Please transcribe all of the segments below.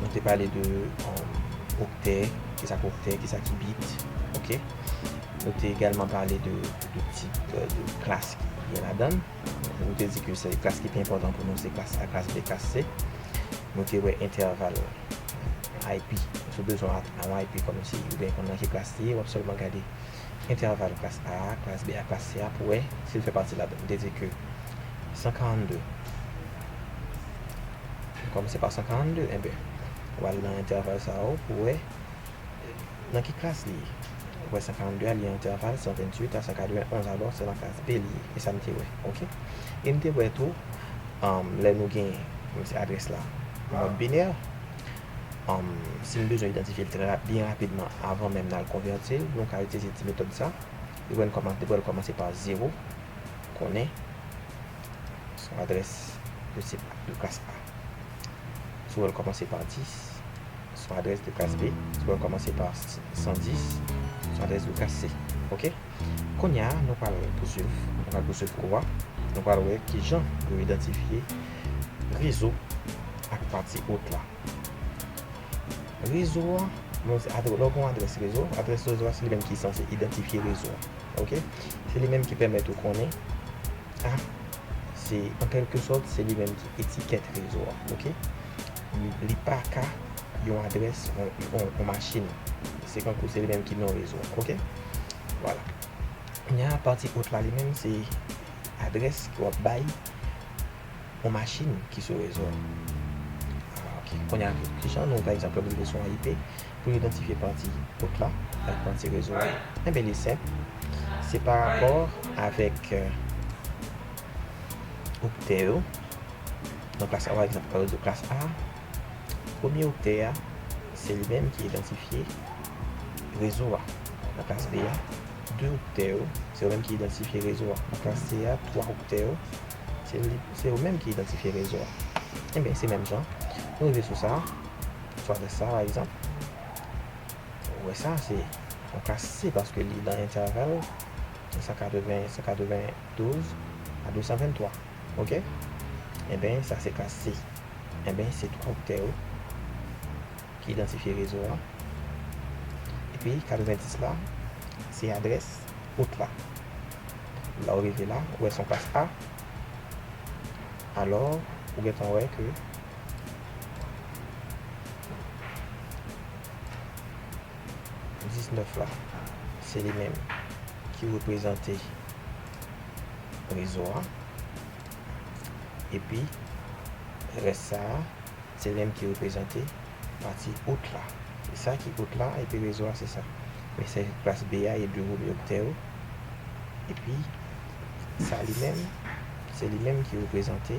Nou te pale de oktè, kisa ki oktè, kisa ki bit, ok. Nou te egalman pale de tip de klas ki gen ladan. Nou te di ke se klas ki pi enpòtan pou nou se klas A, klas B, klas C. Nou te wè entèval IP. Sou bezwen yon IP kòm si ou gen konnen ki klas li ye, wap sèlman gade entèval klas A, klas B ak klas C a pou wè si l fè pati ladan. Nou te di ke 142 Kòm se pa 142, enben, ou al nan entèval sa yo pou wè nan ki klas li ye. Ou wè 142 a li an entèval 128 a 191, alò se nan klas B li ye. E sa m te wè, ok. E m te wè tou, lè nou gen, menm si adrès la mòd binè, si m bezwen idantifye l trè byen rapidman avan menm n al konvèti l, nou ka itilize ti metòd sa. Epi wè n kòman, depi wè l kòmanse pa zewo, konnen. Son adrès de sip a, de klas A. Si w wè l kòmanse pa 10, son adrès de klas B. Si w wè l kòmanse pa 110, son adrès de klas C. Ok? Kounye a, nou pral pouswiv. Nou pral pouswiv kou a. Nou pral wè ki jan yo idantifye rezo ak pati ot la. Rezo a, lè w gen yon adrès rezo, adrès rezo a se li menm ki sanse idantifye rezo a. Ok? Se li menm ki pèmèt ou konnen. Sa se an kèlke sòt se li menm ki etikèt rezo a ok. Li pa ka yon adrès yon machin. Se kankou se li menm ki non rezo a ok. Vwala. Kounye a pati haut la li menm se adrès ke w ap bay yon machin ki sou rezo a. Kounye a kijan nou pa egzanp lè m rive sou yon IP. Pou idantifye pati kot la ak pati rezo a, enben li senp, se pa rapò avèk oktè yo, nan klas a pa egzanp, nan rezo klas A, premye oktè a, se li menm ki idantifye rezo a, nan klas B a, de oktè yo, se yo menm ki idantifye rezo a, nan klas C a, twa oktè yo, se yo menm ki idantifye rezo a. Enben, se menm jan, nou rive sou sa. Fraz sa pa egzanp, ou wè sa se yon ka si paske li nan entèval 180, 192 a 223. Ok? Enben, sa se ka si. Enben, se 3 oktè yo ki idantifye rezo a. Epi, 90 la, se adrès out la. Lè ou rive la, ou wè se yon klas A. Alò, ou gentan wè ke. 19 la, se li menm ki reprezante rezo a. Epi, rès sa a, se li menm ki reprezante pati out la. Se sa ki out la, epi rezo a se sa. Men se klas B a, e 2 gwo miyoktè yo. Epi, sa li menm, se li menm ki reprezante.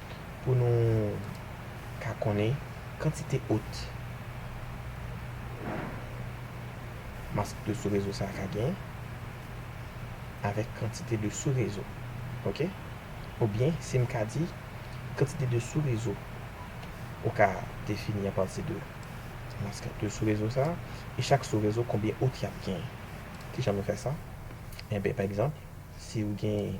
pou nou ka konnen kantite ot mask de sou rezo sa ka gen avèk kantite de sou rezo ok ou byen si m ka di kantite de sou rezo ou ka defini a pati de mask de sou rezo sa e chak sou rezo konbyen ot y ap gen kijan nou fè sa enben pa egzanp si ou gen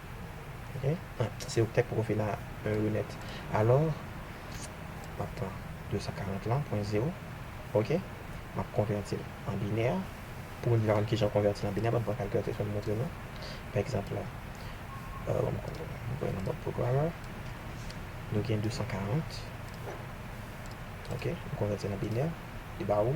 Se oktèt pou konfina a yo nèt. Alò, m ap pran 240 la, pwen zewo. Ok. M ap konvèti l an binè. Pou moun ki pa konn ki jan konvèti l an binè, banm pran kalkilatris mwen montre nou. Pa egzanp, banm voye nan mòd programmer. Nou gen 240. Ok. M konvèti l an binè. Li ba ou.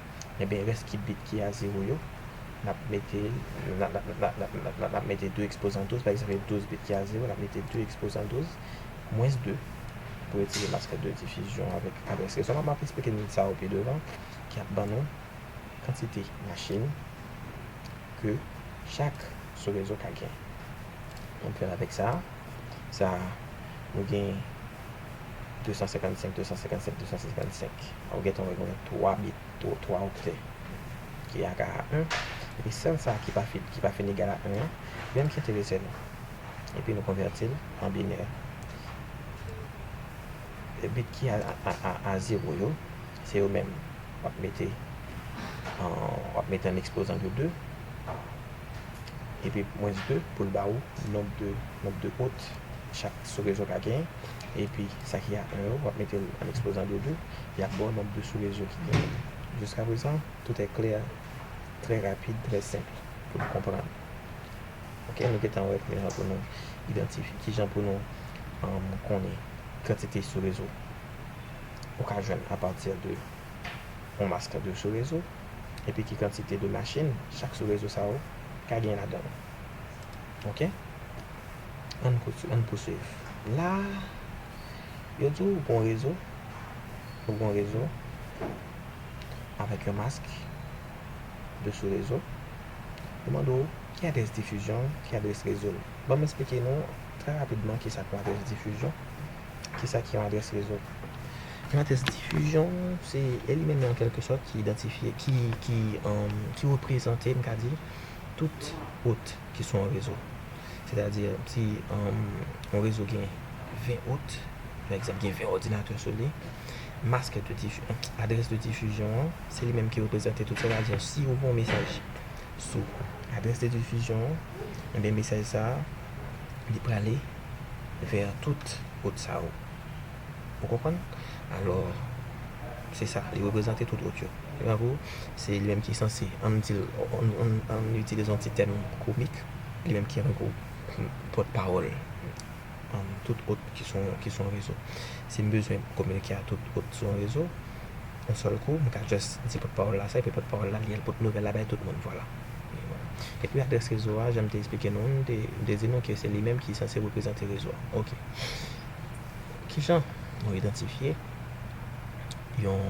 Ebyen rès ki bit ki a zewo yo, n ap mete n ap mete 2 ekspozan 12, pa egzanp gen 12 bit ki a zewo, n ap mete 2 ekspozan 12 mwens 2 pou retire mas kè de difizyon avèk adrès rezonab. M ap esplike nou sa yo pi devan ki ap ban nou kantite machin ke chak sou rezo ka gen. An premye avèk sa a, sa a nou gen 255, 255, 255. Ou gentan wè gen 3 bit, 3 oktè ki ega a 1. Epi sèl sa ki pa fin egal a 1 an, li menm ki enterese nou. Epi nou konvèti l an binè. Bit ki a zewo yo, se yo menm w ap mete an ekspozan de 2. Epi mwens 2 pou l ba ou nonb de pot chak sou rezon ka genyen. Epi sa ki atè yo, wap mete l an eksplozan doudou, yap ba w nòt de sou rezo ki genyen. Jiska prezan, tout è klè, trè rapid, trè senp pou n konprann. Ok, nou gentan wè kijan pou nou idantifye, kijan pou nou konnen kantite sou rezo ou ka jwenn apati de yon mas kantite sou rezo, epi ki kantite de machin chak sou rezo sa yo ka gen ladan l. Ok. Ann pouswiv. La a, yo di ou gon rezo, ou gon rezo avèk yon mask de sou rezo. Yo mande ou ki adrès difizyon l, ki adrès rezo l. Banm esplike nou trè rapidman ki sa k yon adrès difizyon, ki sa ki yon adrès rezo. Yon adrès difizyon, se elimèn an kèlke sòt ki idantifye, ki reprezante, m ka di, tout wout. Ki sou yon rezo. Sètadi, si yon rezo gen 20 out, yon egzanp gen 20 òdinatè sou li, mask de difizyon, adrès de difizyon an, se li menm ki reprezante tout. Sètadi, si ou gen yon mesaj sou adrès de difizyon an, enben mesaj sa a, li prale vè tout out sa yo. Ou konprann? Alò, se sa, li reprezante tout ot yo. Jango, se li menm ki sanse, an n di l, an n itilize yon ti tèm komik, li menm ki an gwo pòtpawòl tout ot ki sou yon rezo. Si m bezwen kominike a tout ot sou yon rezo, yon sèl kou, m ka jis di pòtpawòl la sa, epi pòtpawòl la li al pote nouvèl la bay tout moun. Vwala. Epi adrès rezo a, jan m te esplike nou, m te di nou ke se li menm ki sanse reprezante rezo a. Ok. Ki jan nou idantifye yon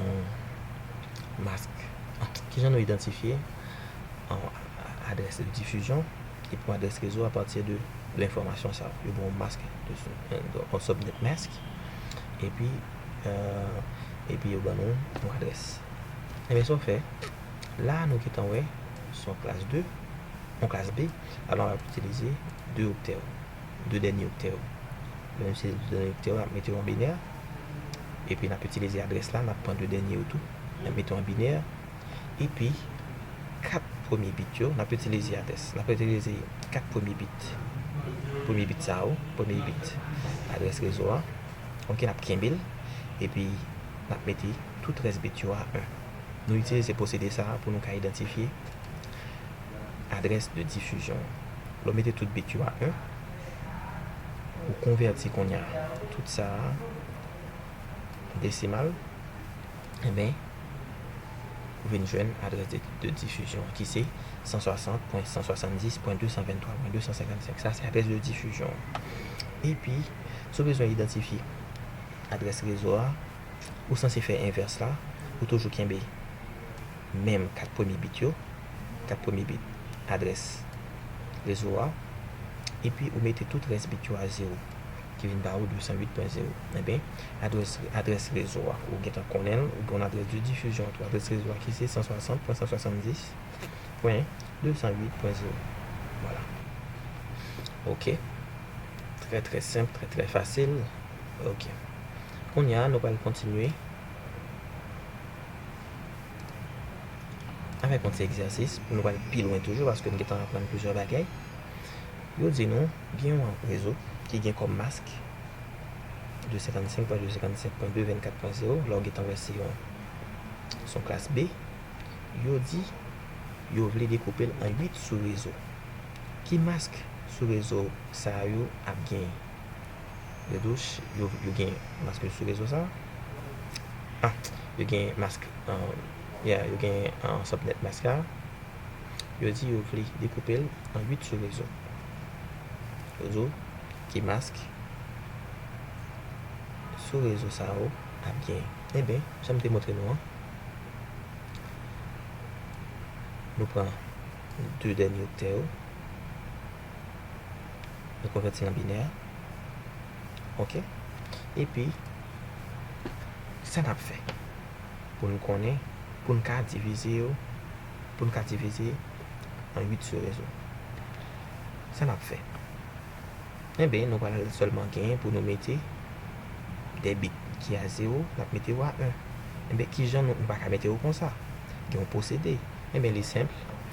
mask? Ki jan nou idantifye yon adrès difizyon epi yon adrès rezo apati de enfòmasyon sa yo? Yo gen yon mask, yon subnet mask, epi yo ban nou yon adrès. Ebyen sa w fè, la nou gen tan wè se yon klas 2, yon klas B, alò w ap itilize 2 oktè yo, 2 dènye oktè yo. Menm si se de done ekstè yo, n ap mete yo an binè. Epi n ap itilize adrès la, n ap pran de dènye yo tou, n ap mete yo an binè. Epi, kat premye bit yo, n ap itilize adrès, n ap itilize kat premye bit, premye bit sa yo, premye bit adrès rezo a, ok, n ap kenbe l. Epi, n ap mete tout rès bit yo a 1. Nou itilize pwosede sa a pou nou ka idantifye adrès de difizyon an. Lè w mete tout bit yo a 1. Ou konvèti kounye a. Tout sa a an desimal. Enben, ou vin jwenn adrès de difizyon an ki se 160.170.223.255. Sa se adrès de difizyon an. Epi, si w bezwen idantifye adrès rezo a. ou sanse fè envès la, ou toujou kenbe menm 4 premye bit yo, 4 premye bit adrès rezo a, epi ou mete tout rès bit yo a zewo, ki vin ba ou 208.0. Enben, adrès adrès rezo a, ou gentan konnen l, ou gen yon adrès de difizyon tou, adrès rezo a ki se 160.170.208.0. Vwala. Ok. Trè trè senp, trè trè fasil. Ok. Kounye a, nou pral kontinye avèk yon ti egzèsis pou nou pral pi lwen toujou paske nou gentan aprann plizyè bagay. Yo di nou gen yon rezo ki gen kòm mask 255.257.224.0, la ou gentan wè se yon son klas B. Yo di yo vle dekoupe l an 8 sou-rezo. Ki mask sou-rezo sa yo ap genyen? Yo dous yo gen mask sou rezo sa ah yo gen mask yeah yo gen sòt nèt mask la yo di yo vle dekoupel an 8 sou rezo yo di w ki mask sou rezo sa yo ap gen eben janm te montre nou an nou pran 2 dènye oktè yo. Nou konvèti nan binè a. Ok. Epi, ki sa n ap fè pou n konnen, pou n ka divize yo, pou n ka divize an 8 sou rezo? Sa n ap fè? Enben, nou pral sèlman gen pou nou mete 2 bit ki a zewo, n ap mete yo a 1. Enben, ki jan nou, nou pa ka mete yo konsa. Gen yon pwosede. Enben, li senp.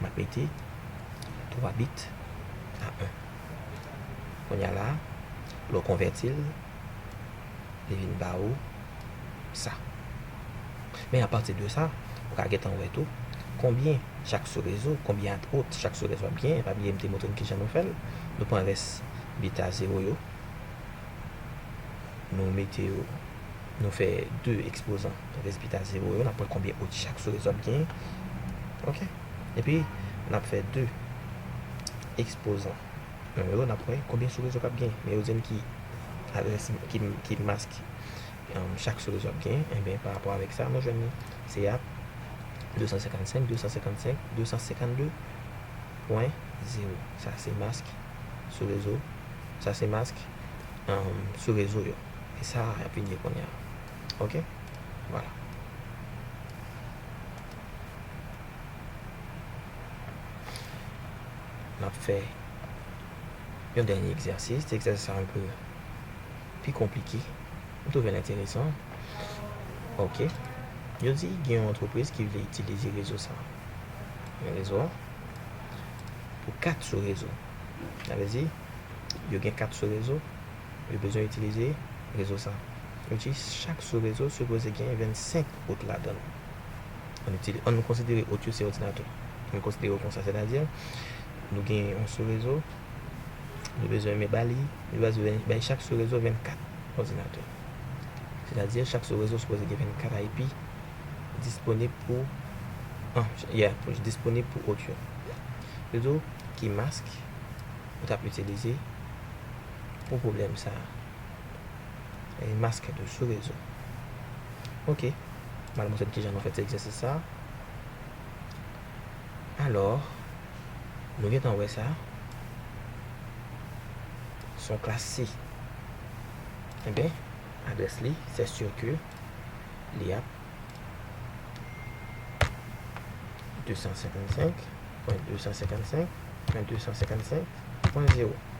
M ap mete 3 bit a 1. Kounye a la, lè w konvèti l, li vin ba ou sa. Men apati de sa, ou ka gentan wè tou konbyen chak sourezo, konbyen at out chak sourezo ap genyen. Pa bliye m te montre n kijan nou fè l. Nou pran rès bit a zewo yo, nou mete yo Nou fè 2 ekspozan rezilta zewo yo. N ap wè konbyen ot chak sou rezon ap genyen. Ok. Epi, n ap fè 2 ekspozan non yo. N ap wè konbyen sou rezon k ap genyen. Men yo di n ki adrès, ki mask chak sou rezon ap genyen. Enben, pa rapò avèk sa, nou jwenn ni se ap 255, 255, 252 pwen zewo. Sa se mask sou rezo, sa se mask sou rezo yo. E sa yap vin ye kounya ok voilà. Nap fè yon dènye egzèsis, ti egzèsis sa anpe pi konplike. M twouve l enteresan ok. Yo di gen yon antrepriz ki vle itilize rezo sa. Yon rezo a pou 4 sou rezo. Sa vle di yo gen 4 sou rezo. Yo bezwen itilize rezo sa. Yo di chak sou rezo sipoze gen 25 ot ladan l. An n an n konsidere ot yo se òdinatè. An n konsidere yo konsa. Sètadi, nou gen yon sou rezo, nou bezwen men ba li, nou bezwen bay chak sou rezo 24 òdinatè. Sètadi, chak sou rezo sipoze gen 24 IP disponib pou an, ya, disponib pou ot yo. Yo di w ki mask ou t ap itilize Pou pwoblèm sa a. E maske tou sou rezo. Ok. M al montre nou kijan nou fè ti egzèsis sa a. Alò, nou gentan wè sa. Se yon klas si. Enben, adrès li, sè sir ke li ap 255.255.255.0.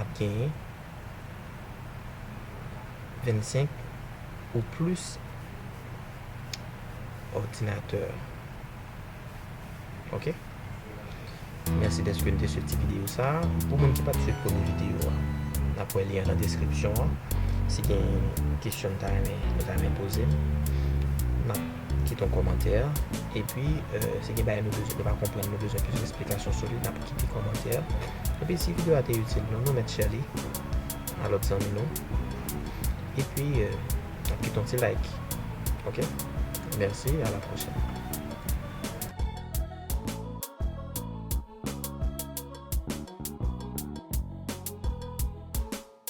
ap genyen 25 ou plis òdinatè. Ok. Mèsi dèske n te swiv ti videyo sa a. Pou moun ki pa t swiv premye videyo a, n ap wè li an nan deskripsyon an. Si gen kesyon n ta renmen, nou ta renmen poze m, n ap kite yon kòmantè. Epi, si gen bagay nou bezwen, nou pa konprann, nou bezwen plis esplikasyon sou li, n ap. Kite kòmantè Epi si video a te itil nou nou mèt share li a lòt zanmi nou Epi nap kite yon ti like ok Mèsi a la pwochèn.